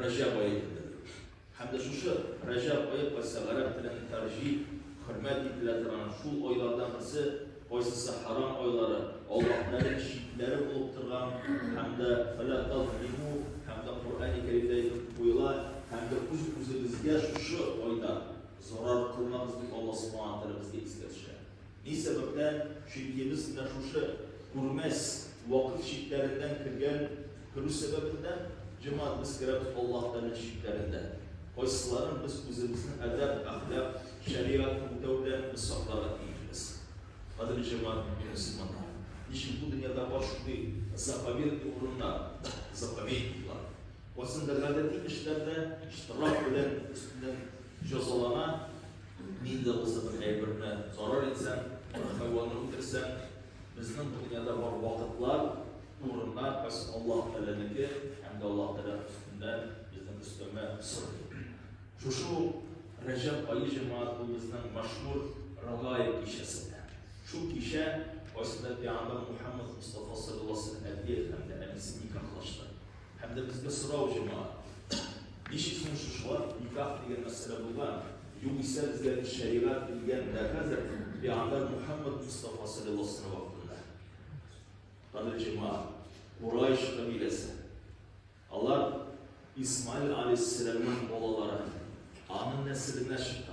Рәҗәб ае дип белдерү. Һәм дә шушы Рәҗәб ае кайсы гарәп телен тәрҗип, хөрмәт ителә торган шул айлардан берсе, кайсысы хәрам айлары, Аллаһ Тәгаләнең чикләре булып торган һәм дә фәлә тазлиму һәм дә Коръәни Кәримдә әйтеп куела, һәм дә үз-үзебезгә шушы айда зарар кылмагыз дип Аллаһ Субхана Тәгалә безгә искә төшерә. Ни сәбәптән? Чөнки без менә шушы күрмәс вакыт чикләреннән кергән көлү сәбәбендә, җәмәгать, без керәбез Аллаһ Тәгаләнең чикләрендә, кайсыларын без үзебезнең әдәп, әхлак, шәригатьне үтәү белән без сакларга тиешбез. Кадерле җәмәгать, мөэмин мөселманнар, ничек бу дөньяда бар шундый заповедный урыннар, заповедниклар, кайсында гадәти кешеләр дә штраф белән өстеннән җәзалана, Мин дә булса бер әйберне зарар итсәм, бер хайванны үтерсәм, безнең бу дөньяда бар вакытлар, урыннар кайсы Аллаһ Тәгаләнеке һәм дә Аллаһ Тәгалә өстендә безнең өстәмә сорый. Шушы ук Рәҗәб ае җәмәгать бу безнең мәшһүр Рагаиб кичәсендә. Шул кичә кайсында пәйгамбәр Мухаммад Мустафа саллаллаһу алейһи ва сәлләм әбиен һәм дә әнисен никахлашты. Һәм дә безгә сорау җыма. Ничек соң шушы вакыт никах дигән мәсьәлә булган? Югыйсә безгә бит шәригать килгән дә хәзер пиандар Мухәммәд Мостафа саллиллаһу вакытында. Кадер җыма, Курайш кабиләсе. Алар Исмаил алейһиссәламның балалары, аның нәселенә чыккан.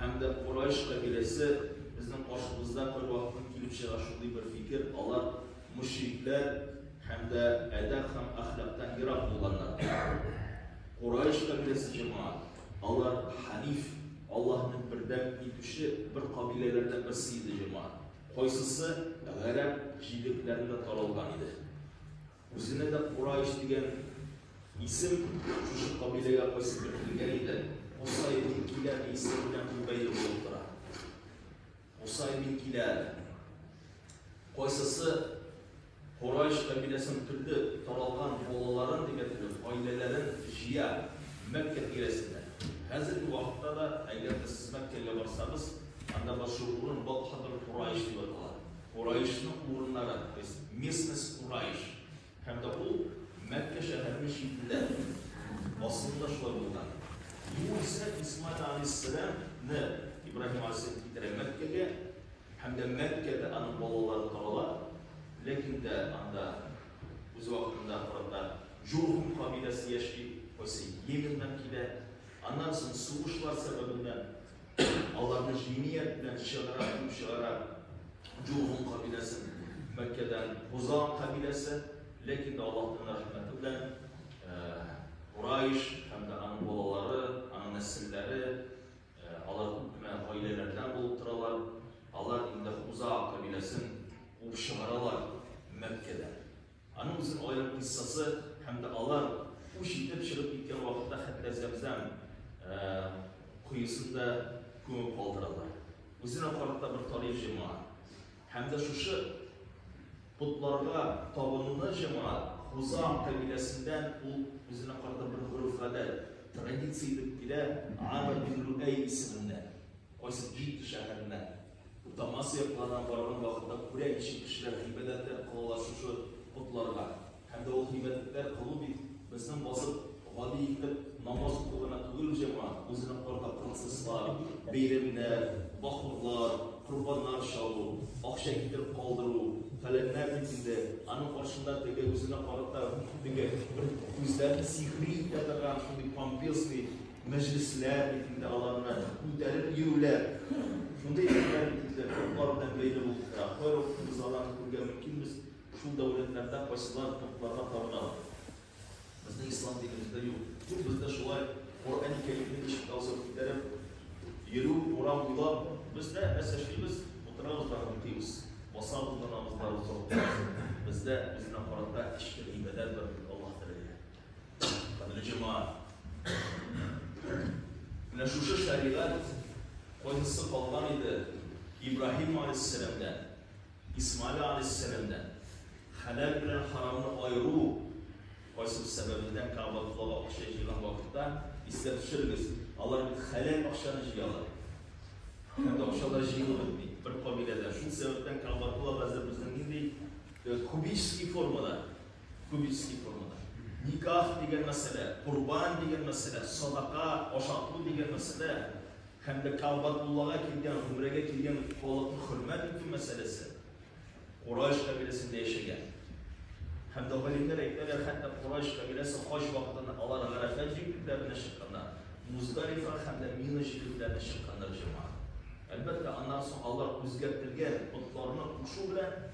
Һәм дә Корайш кабиләсе безнең каршыбызда бервакытын килеп чыга шундый бер фикер, алар мөшрикләр һәм дә әдәп һәм әхлактан ерак булганнар. Корайш кабиләсе җәмәгать, алар ханиф, Аллаһны бердәм итүче бер кабиләләрдән берсе иде җәмәгать. Кайсысы гарәп җирлекләрендә таралган иде. Үзенә дә Курайш дигән исем шушы кабиләгә кайсы бер килгән иде. Кусай бин Килә исеме белән ул бәйле булып тора. Кусай бин Килә. Кайсысы Курайш кабиләсен төрле таралган балаларын дип әйтелеп, гаиләләрен җыя Мәккә тирәсендә. Хәзерге вакытта да, әгәр дә сез Мәккәгә барсагыз, анда бар шул урын Батхабр Курайш дип атала. Кураишның урыннары, то есть местность Кураиш, һәм дә ул Мәккә шәһәренең читендә асылында шулай булган. Югыйсә Исмаил галәйһиссәлам ны Ибраһим галәйһиссәлам китерә Мәккәгә, һәм дә Мәккәдә аның балалары торалар, ләкин дә анда үз вакытында арада Җурһум кабиләсе яши, кайсы Йеменнан килә, аннан соң сугышлар сәбәбеннән аларны җиният белән чыгара, куып чыгара. Җургун кабиләсе Мәккәдән Хузан кабиләсе, ләкин дә Аллаһның рәхмәте белән Курайш һәм дә аның балалары, аның нәселләре, алар күп кенә гаиләләрдән булып торалар. Алар инде Хуза кабиләсен куып чыгаралар Мәккәдән. Аның үзен аерып кыйссасы һәм дә алар үч итеп чыгып киткән вакытта хәтта Зәмзәм коесын да күмеп калдыралар. Үзенә карата бер тарих җәмәгать. Һәм дә шушы потларга табынуны җәмәгать Хузам кабиләсендән ул үзенә карата бер гореф-гадәт, традиция итеп килә, Амр бин Лүәй исеменнән, кайсы Җидда шәһәреннән. Утамас якларына барган вакытта күрә ничек кешеләр гыйбадәттә калалар шушы потларга. Һәм дә ул гыйбадәтләр кылу бит безнең басып гади итеп намаз уку гына түгел җәмәгать, үзенең корда процесслар, бәйрәмнәр, бахурлар, корбаннар чалу, акча китереп калдыру, фәләннәр дип инде аның каршында теге үзенә карата теге бер күзләрен сихри итә торган шундый помпезный Мәҗлесләр бит инде аларны күтәреп йөрүләр, шундый хәлләр бит инде котлар белән бәйле булып тора. Кайвакытыбыз аларны күрергә мөмкинбез, шул дәүләтләрдә кайсылар котларга табыналар. Безнең ислам динебездә юк. Юк бездә шулай Коръәни Кәримне ишек аузына күтәреп йөрү, урам буйлап. Бездә без яшибез, утырабыз да укыйбыз, басабыз да намазларыбызны укыйбыз. Бездә үзенә карата эчке гыйбадәт бар бит, Аллаһ Тәгаләгә. Кадерле җәмәгать, менә шушы шәригать кайсысы калган иде Ибраһим галәйһиссәламдән, Исмаил галәйһиссәламдән? Хәләл белән харамны аеру кайсыбыз сәбәбеннән Кәгъбәтуллага акча җыйган вакытта искә төшерегез, алар бит хәләл акчаны җыялар. Һәм дә акча да җыелып бетми. Бер кабиләдә шул сәбәптән Кәгъбәтулла хәзер безнең нинди кубический формада Күп иски формада. Никах дигән мәсьәлә, корбан дигән мәсьәлә, садака, ашату дигән мәсьәлә һәм дә Кәгъбәтуллага килгән, гомрәгә килгән халыкны хөрмәт итү мәсьәләсе Курайш кабиләсендә яшәгән. Һәм дә галимнәр әйтәләр, хәтта Курайш кабиләсе хаҗ вакытында алар Гарәфә җирлекләренә чыкканнар, Муздалифа һәм дә Мина җирлекләренә чыкканнар җәмәгать. Әлбәттә, аннан соң алар үзгәртелгән потларны кушу белән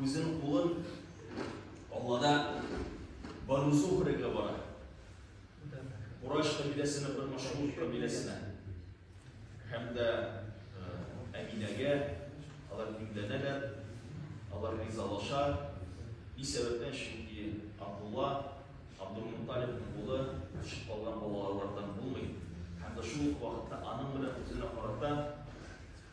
Үзен кулын Аллада барузу хөрегә бара. Кураш кабиләсенә бер машгул кабиләсенә. Һәм дә Әминәгә алар юнләнәләр, алар ризалаша. Ни сәбәптән? Чөнки Абдулла Абдулмуталибның улы төшеп калган балалардан булмый. Һәм дә шул ук вакытта аның белән үзенә карата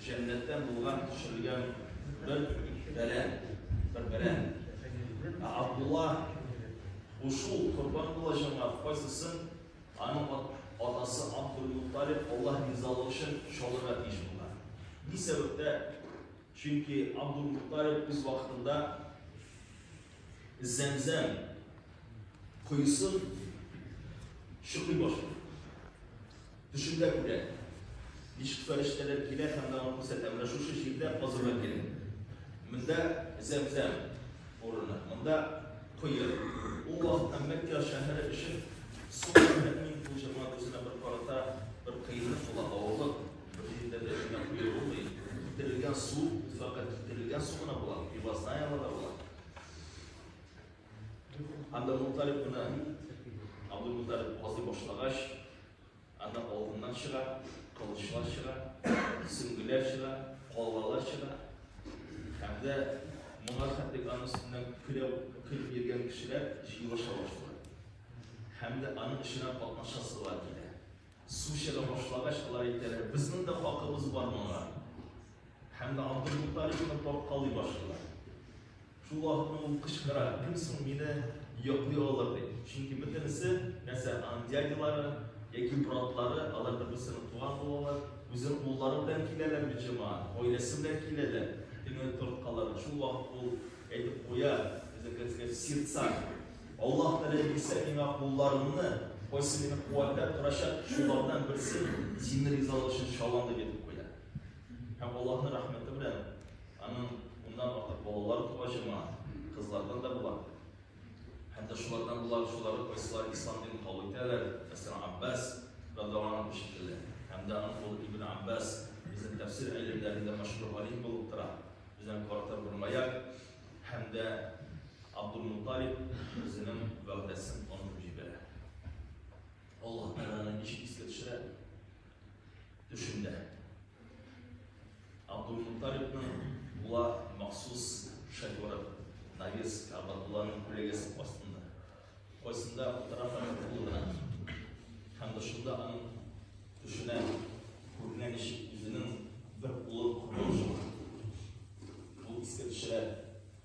Җәннәттән булган төшерелгән бер бәрән, бер бәрән. Ә Абдулла Ушу корбан булачагына кайсысын аның атасы Абдулмутталиб Аллаһ ризалыгы өчен чалырга тиеш булган. Ни сәбәптә? Чөнки Абдулмутталиб үз вакытында Зәмзәм коесын шыкый башлый. Төшемдә күрә. Ничек фәрештәләр килә һәм аңа күрсәтә. Менә шушы җирдә казырга кирәк. Монда зәмзәм урыны. Монда коя. Ул вакытта Мәккә шәһәре өчен су мөһим булҗырма үзенә бер карата бер кыенлык була, авырлык. Бер җирдә дә шуна куя булмый. Китерелгән су, фәкать китерелгән су гына була, пивозная вода була. Анда Муталиб кына Абдул Муталиб казый башлагач, анда алтыннар чыга, кылычлар чыга, сөңгеләр чыга, калгалар чыга. Һәм дә моңа хәтлек аның өстеннән көләп көлеп йөргән кешеләр җыелыша башлыйлар. Һәм дә аның эшенә катнашасылар килә. Су чыга башлагач, алар әйтәләр, безнең дә хакыбыз бар моңа. Һәм дә Абдул Муталибны тарткалый башлыйлар. Шул вакытта ул кычкыра, кем соң мине йоклый алыр дип. Чөнки бөтенесе нәрсә, аның дядялары яки братлары, алар да берсенең туган булалар, үзенең куллары белән киләләр бит җәмәгать, гаиләсе белән киләләр. Икене торткалар. Шул вакыт ул әйтеп куя, безнекәсгә сердца. Аллаһ Тәгалә бирсә миңа кулларымны, кайсы мине куәтләп торачак, шулардан берсен сине ризалык өчен чалам дип әйтеп куя. Һәм Аллаһның рәхмәте белән Аның уннан артык балалары туа җыма, кызлардан да була. Һәм дә шулардан болар, шулары кайсылар ислам динен кабул итәләр, мәсәлән, Аббас радиаллаһу анһу шикелле. Һәм дә аның улы Ибн Аббас безнең тәфсир галимнәрендә мәшһүр галим булып тора. Безнең каратар бер маяк. Һәм дә Абдул-Мутталиб үзенең вәгъдәсен онытып җибәрә. Аллаһ Тәгаләне ничек искә төшерә? төшендә. Абдулмуталибның була махсус шоферы Навес Абадулланың күләгәсе астында. Кайсында утыра фәкәтулына. Һәм дошында аның төшенә күргән еш үзенең бер улы куркынычы. Ул искә төшерә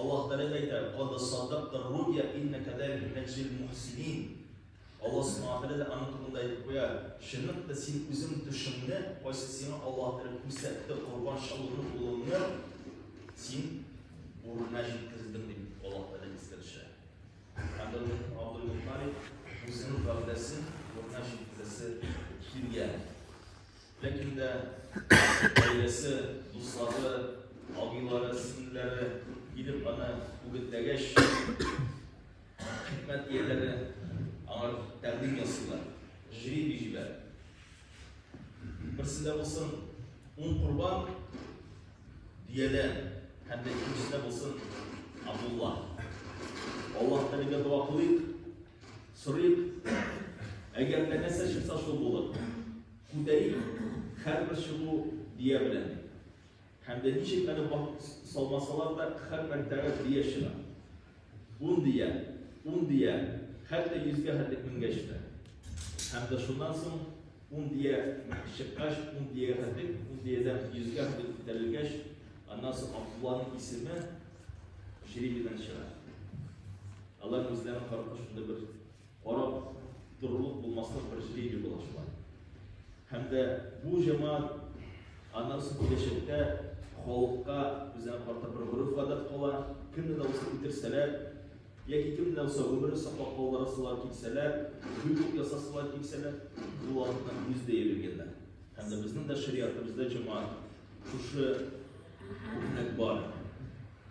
Аллаһ Тәгалә әйтә, Кад саддактар руйя иннәкә дә мин әҗрил мухсинин. Аллаһ Субхана Тәгалә дә аның турында әйтеп куя, чынлап та син үзең төшеңне, кайсы сиңа Аллаһ Тәгалә күрсәтте, корбан чалуны булуны син урынына җиткердең дип Аллаһ Тәгалә искә төшә. Абдул Мухтариф үзенең гәүдәсен урынына җиткерәсе килгән. Ләкин дә гаиләсе, дуслары, абыйлары, сеңлеләре килеп аны үгетләгәч, хикмәт ияләре аңар тәкъдим ясыйлар, жребий җибәр. Берсендә булсын ун корбан биядән һәм дә икенчесендә булсын Абдулла. Аллаһ Тәгаләгә дога кылыйк, Сорыйк, әгәр дә нәрсә чыкса шул булыр. Күтәрик, хәрбер чыгу бия белән. Һәм дә ничек әле салмасалар да хәрбер тәрәз бия чыга. Ун бия, ун бия, хәтта йөзгә хәтлек менгәч тә. Һәм дә шуннан соң ун бия чыккач, ун биягә хәтлек, ун биядән йөзгә хәтлек күтәрелгәч, аннан соң Абдулланың исеме жребийдан чыга. Алар үзләрен карата шундый бер карап торырлык булмаслык бер жребий була шулай. Һәм дә бу җәмәгать аннан соң киләчәктә халыкка үзләрен карата бер гореф-гадәт кала, кемне дә булса үтерсәләр, яки кемне дә булса гомерен саклап калдырасылар килсәләр, бүлек ясасылар килсәләр, бу вакытта үз дә йөргәннәр. Һәм дә безнең дә шариатыбызда җәмәгать шушы күпмәк бар.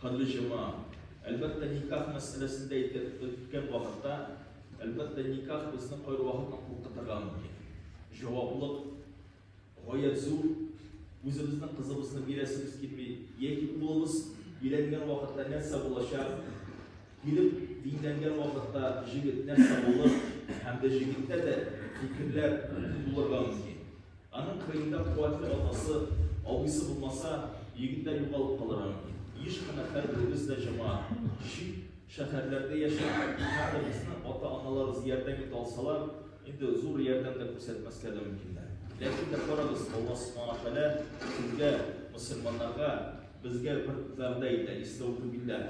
Кырлы җома. Әлбәттә, никах мәсьәләсендә әйтәбез, без үткән вакытта, әлбәттә, никах безне кайвакытта куркытырга мөмкин. Җаваплылык гаять зур. Үзебезнең кызыбызны бирәсебез килми, яки улыбыз өйләнгән вакытта нәрсә булачак? Килеп динләнгән вакытта җегет нәрсә булыр? Һәм дә җегеттә дә фикерләр булырга мөмкин. Аның кырыенда куәтле атасы, абыйсы булмаса, егет тә югалып калырга мөмкин. Еш кына һәрберебез дә җәмәгать, чит шәһәрләрдә яшәгән кемнәребезне ата-аналарыбыз ярдәм итә алсалар, инде зур ярдәм дә күрсәтмәскә дә мөмкиннәр. Ләкин дә карагыз, Алла Субхана Тәгалә сезгә, мөселманнарга, безгә бер вәгъдә итә, Истәүфү билләһ.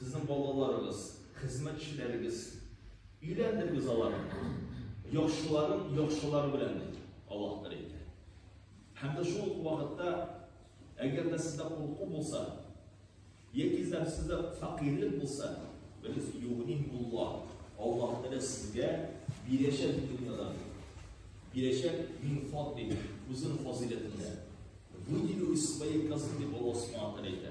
Сезнең балаларыгыз, хезмәтчеләрегез, өйләндерегез аларны. Яхшыларын яхшылар белән дип Аллаһ Тәгалә әйтә. Һәм дә шул вакытта, әгәр дә сездә курку булса, яки дә сездә фәкыйрьлек булса, без югнин булла. Аллаһ Тәгалә сезгә бирәчәк дөньядан. Бирәчәк мин фат дип, үзенең фазилетендә. Вы не успеете, как ты волос смотрите.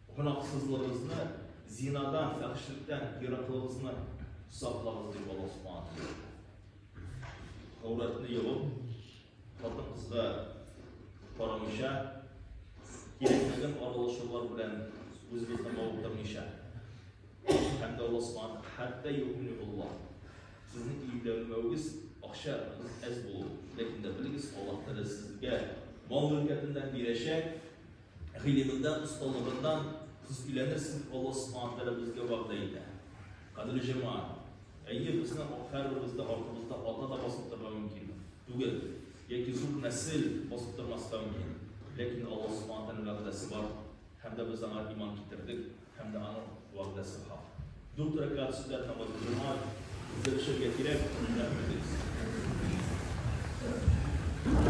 Гөнаһсызлыгызны, зинадан, фәхешлектән ераклыгызны саклагыз, дип Аллаһ Субханаһу Гауратны ябып, хатын-кызга карамыйча, кирәкмәгән аралашулар белән үзебезне мавыктырмыйча. Һәм дә Аллаһ Субханаһу хәтта юкмени Аллаһ. Сезнең июләнмәвегез акча әз булу. Ләкин дә белегез, Аллаһ Тәгалә сезгә мал мөлкәтеннән бирәчәк. Гыйлеменнән, осталыгыннан сез өйләнерсез, Алла Субхана Тәгалә безгә вәгъдә итә. Кадерле җәмәгать, әйе, безнең һәрберебез дә артыбызда ата да басып торырга мөмкин түгел, яки зур нәсел басып тормаска мөмкин. Ләкин Алла Субхана Тәгаләнең вәгъдәсе бар, һәм дә без аңа иман китердек, һәм дә аның вәгъдәсе хак. Дүрт рәкәгать сүтә торган җомга безгә төшәргә кирәк, рәхмәт итегез.